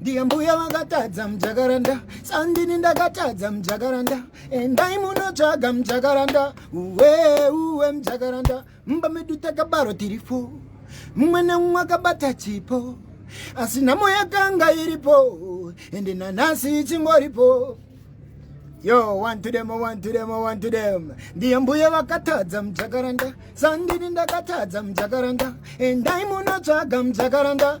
ndiye mbuya vakatadza mujakaranda sandini ndakatadza mujakaranda endai munotsvaga mujakaranda uwe uwe mujakaranda mumba medu takabaro tiri fo mumwe nemumwe akabata chipo asi nhamo yakanga iripo ende nanhasi ichingoripo yo one to them one to them one to them ndiye mbuya vakatadza mujakaranda sandini ndakatadza mujakaranda endai munotsvaga mujakaranda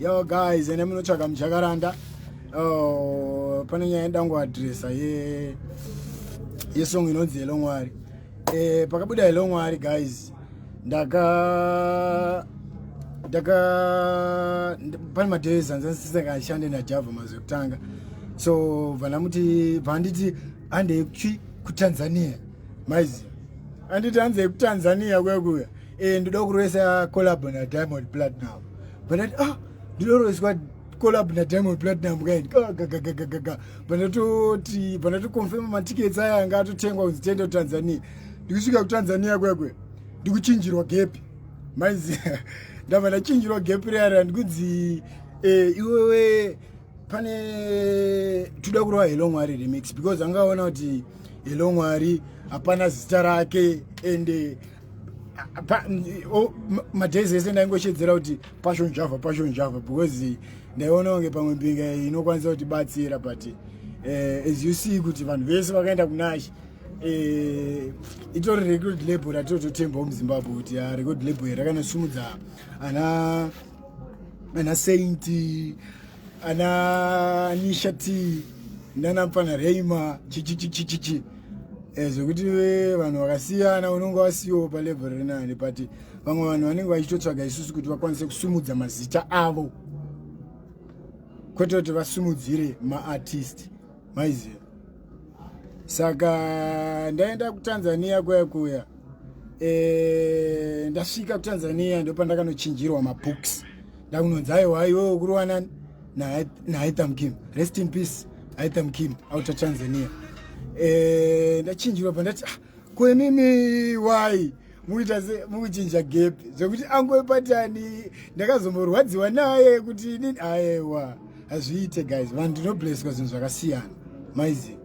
yo guys ene munotsvaga mujakaranda oh, pane nyaya yedango adresa ye yesong inonzi hello mwari eh, pakabuda hello mwari guys ndaka ndaka pane madays anzansisekashande najava mazwi ekutanga so vanamuti vanditi andei kutanzania maizi anditi anzei kutanzania kuya kuya eh ndoda kuroisa collab na diamond platinum but at ah ndinoroiswa collab na diamond platinum kaini gagagagagaga pandatoti pandatoconfirma matickets aya anga atotengwa kunzi tiende kutanzania ndikusvika kutanzania kwekwe ndikuchinjirwa gepi maizi ndabva ndachinjirwa gepi reara ndikunzi eh, iwewe pane toda kurova hello mwari remix because angaona kuti hello mwari hapana zita rake ende madays ese ndaingoshedzera kuti passion java passion java because ndaiona kunge pamwe mbinga inokwanisa kuti batsira but eh, as you see kuti vanhu vese vakaenda kunashe eh, itori record label ratitototembawo muzimbabwe kuti ah, record label rakanasumudza ana ana sainti ana nisha t nana mpfana reima chichichichichichi eh, zvekuti vanhu vakasiyana unonge wasiyowo palevel rinani but vamwe vanhu vanenge vachitotsvaga isusu kuti vakwanise kusumudza mazita avo kwete kuti vasumudzire maartist maiziva saka ndaenda kutanzania kuya kuya e, ndasvika kutanzania ndopandakanochinjirwa mabooks ndakunonzi aiwa iwewe kuruwanani naitham kim rest in peace aitham kim outer tanzania e, ndachinjirwa pandati ah, kwenini why mukuita se mukuchinja gap zvekuti angove patani ndakazomborwadziwa naye kuti inini aewa hazviite guys vanhu ndinobleswa zvinhu zvakasiyana maizi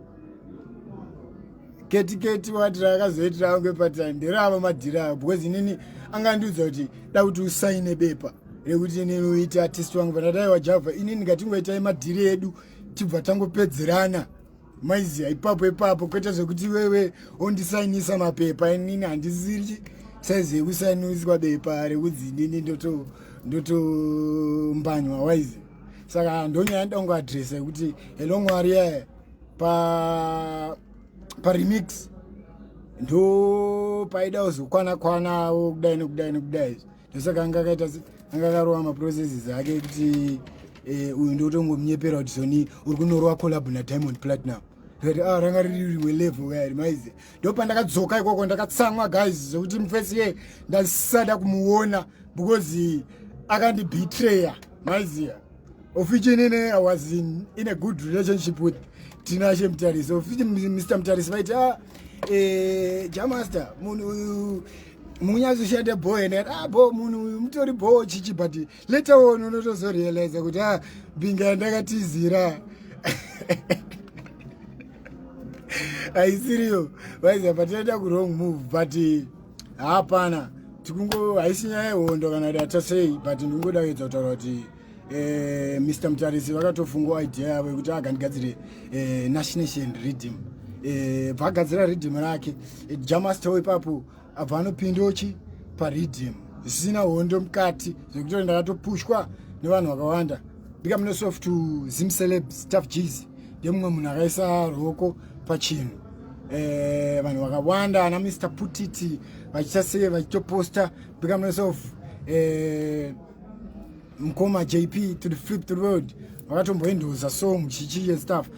keti keti wati raakazoitira angove patani nderava madhira ayo because inini angandiudza kuti da kuti usaine bepa rekuti inini uite artist wangu vanadaiwa java inini ngatingoitai madhiri edu tibva tangopedzerana maiziva ipapo ipapo kwete zvekuti iwewe ondisainisa mapepa inini handisiri saizi yekusainiswa bepa rekudzi inini ndotombanywa waizi saka ndonyaya ndongo adresa yekuti helo mwari yaye pa paremix ndo paida uzokwana kwana wo kudai nokudai nokudai ndosaka anga akaita anga akarova maprocesses ake kuti eh, uyu ndotongomunyepera kuti soni uri kunorova collab nadiamond platinum rati ah, ranga riri rimwe level kaya rimaize ndopandakadzoka ikoko ndakatsamwa guys zvekuti mufesi ye ndasada kumuona because akandibetraya maiziya ofichinene i was in, in a good relationship with tinashe mutarisi ofichi mr mutarisi vaiti ah, eh, jamaster munhu uyu munyazoshanda bho ene ah bho munhu uyu mutori bho chichi but later on unotozorealiza kuti a ah, binga yandakatizira haisiriyo vaiziva patinoita kurong move but hapana tikungo haisi nyaya yehondo kana kuti atasei but ndingoda kuedza kutaura kuti eh, mr mutarisi vakatofungawo idea yavo yekuti agandigadzire eh, nashnation reading eh, bvaagadzira reading rake eh, jamastow ipapo abva anopindochi pareading zvisina hondo mukati zvekuti ndakatopushwa nevanhu vakawanda bika mune soft zim celebs taf gs ndemumwe munhu akaisa roko pachinhu eh, vanhu vakawanda ana mr putiti vachita sei vachitoposta bika mune soft eh, mkoma jp to the flip the world vakatomboendoza so muchichi and stuff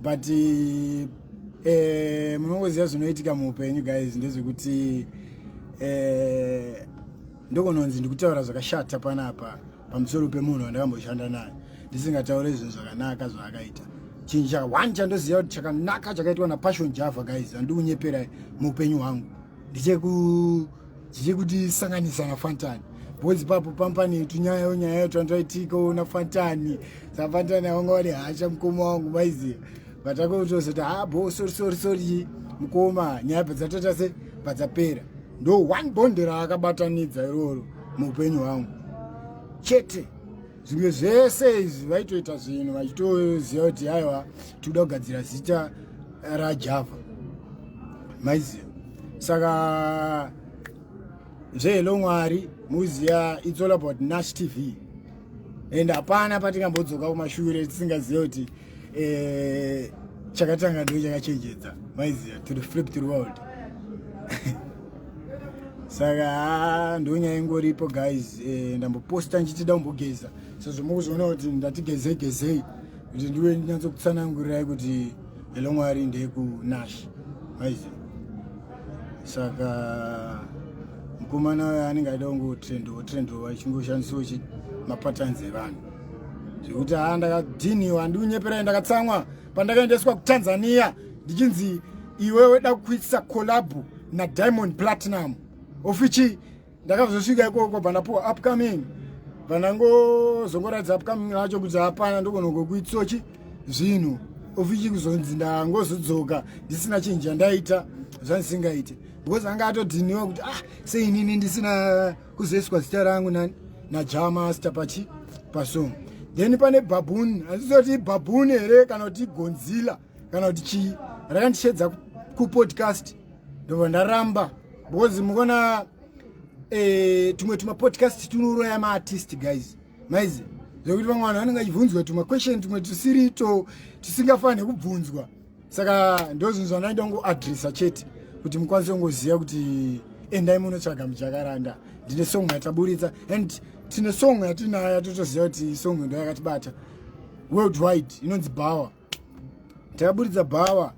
but eh, eh, munongoziva zvinoitika muupenyu guys ndezvekuti eh, ndokononzi ndikutaura zvakashata panapa pamusoro pemunhu wandakamboshanda naye ndisingataure zvinhu zvakanaka zvaakaita chinhu chaka one chandoziva kuti chakanaka chakaitwa napassion java guys andikunyepera muupenyu hwangu ndicheku tiri kuti sanganisa na fantani bhozi papo pampani yetu nyaya yo nyaya yo tandaitika ona fantani sa fantani awanga wari hasha mukoma wangu maiziva vatanga kutozoti ha ah, bho sori sori sori mukoma nyaya padzatoita se padzapera ndo one bond raakabatanidza iroro muupenyu hwangu chete zvimwe zvese izvi vaitoita zvinhu vachitoziva kuti aiwa tikuda kugadzira zita rajava maiziva saka zvehelo mwari muziva its all about nash tv and hapana patingambodzoka kumashure tisingazive kuti eh, chakatanga ndiwe chakachenjedza maiziva to the flip to the world saka ah, ndonyaya ingoripo guys eh, ndamboposta ndichitida kumbogeza sezvo mukuzoona kuti ndati gezei gezei kuti ndiwe ndinyatsokutsanangurirai kuti elomwari ndeyekunash maiziva saka mukomana uyo anenge aida kungotrendova trendova chingoshandisiwo mapatanzi evanhu zvekuti haa ndakadhiniwa handikunyeperai ndakatsamwa pandakaendeswa kutanzania ndichinzi iwe weda kuitisa collabo nadiamond platinum ofichi ndakazosvika ikoko bvandapuwa upcoming bvandangozongoratidza upcoming racho kuti hapana ndogonogokuitsochi zvinhu ofichi kuzonzi ndangozodzoka ndisina chinji yandaita zvandisingaite because anga atodhiniwa kuti ah seinini ndisina kuzoiswa zita rangu nani naja master pachi pasong then pane babuni handizoti ibabuni here kana kuti igonzila kana kuti chii rakandishedza kupodcast ndobva ndaramba because mukona eh, tumwe tumapodcast tunouraya maartist guys maizi zvekuti vamwe vanhu vanenge achibvunzwa tumaquestion tumwe tusirito tusingafanire kubvunzwa saka ndozvinhu zvandaida kungoadressa chete kuti mukwanise kungoziva kuti endai munotsvaga mujakaranda ndine song yataburitsa and tine song yatinayo yatotoziva kuti song ndo yakatibata world wide inonzi bower takaburitsa bower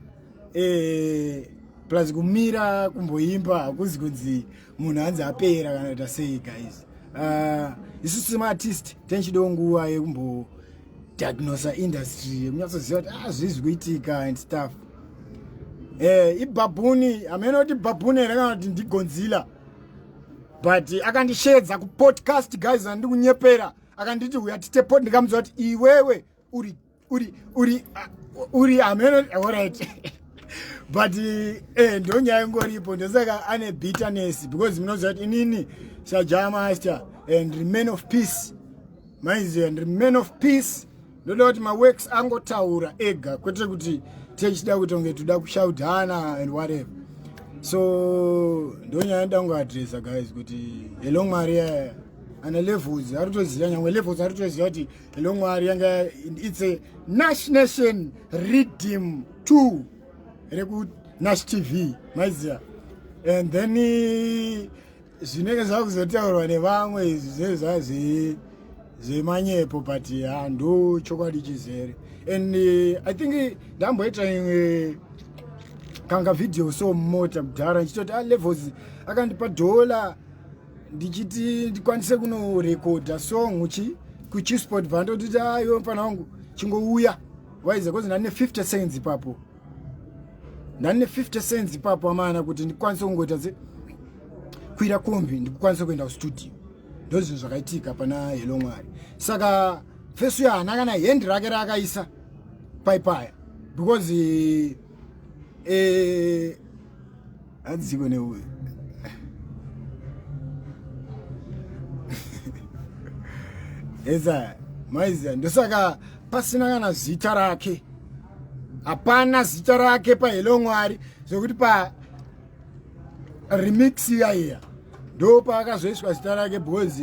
eh, plus kumira kumboimba hakuzi kunzi munhu hanzi apera kana kuita sei guys uh, isu semaartist tenchido nguva yekumbo diagnosa industry yekunyatsoziva kuti ah zvii zvikuitika and stuff eh ibhabhuni hameno kuti bhabhuni here kana kuti ndigonzila but akandishedza kupodcast guys andiri kunyepera akanditi uya tite pod ndikamuziva kuti iwewe uri uri uri ah, uri hameno orit but eh ndonyaya ingoripo ndosaka ane bitterness because munoziva kuti inini sajamaster and remain of peace maiziva ndiri man of peace ndoda kuti maworks angotaura ega kwete kuti techida kuti unge toda kushaudhana and whatever so ndonyaya nda kungoadressa guys kuti hello mwari yaya ana levels ari kutoziva nyangwe levels ari kutoziva kuti hello mwari yanga its a nash nation redeem two reku nash tv maiziva and then zvinenge zvakuzotaurwa nevamwe izvi zvezvazii zvemanyepo but handu chokwadi chizere and eh, i think ndamboita imwe kanga video so mota mudhara ndichitoti alevels ah, akandipa dhola ndichiti ndikwanise kunorekodha song chi kuchisport bva ndotiti ayo ah, mfana wangu chingouya waize kozi ndane 50 seconds ipapo ndani ne 50 cents ipapo amana kuti ndikwanise kungoita se kwira kombi ndikwanise kuenda kustudio ndo zvinhu zvakaitika pana helo mwari saka fesu ya hana kana hendi rake raakaisa paipaya because eh, Adziko ne Eza maiza ndosaka pasina kana zita rake. Hapana zita rake pa Hello Mwari zvekuti pa remix iya iya ndo paakazoiswa zita rake because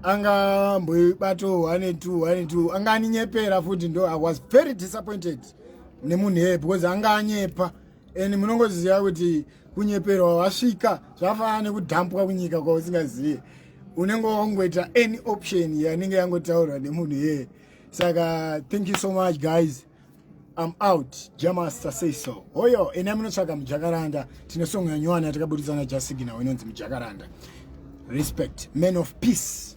anga mboibato 182 anga aninyepera futi ndo i was very disappointed nemunhu eye because anga anyepa and munongoziva kuti kunyeperwa wasvika zvafanana nekudhampwa kunyika kwausingazive unenge wangoita any option yanenge yangotaurwa nemunhu iyeye saka thank you so much guys I'm out jamaster say so hoyo ena munotsvaga mujakaranda tine song yanywana yatakabuditsana jasigina inonzi mujakaranda respect man of peace